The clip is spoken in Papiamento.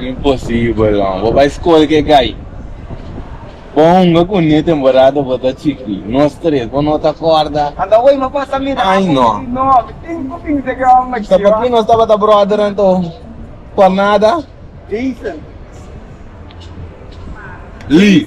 Imposibel man, bo bai skol ke gai. Bo hunga ku niu temporada bo ta chiki. Nos tres bo no ta kòrda? Ai no. Sa p'akí nos tabata bròdernan to? P'or nada? Li.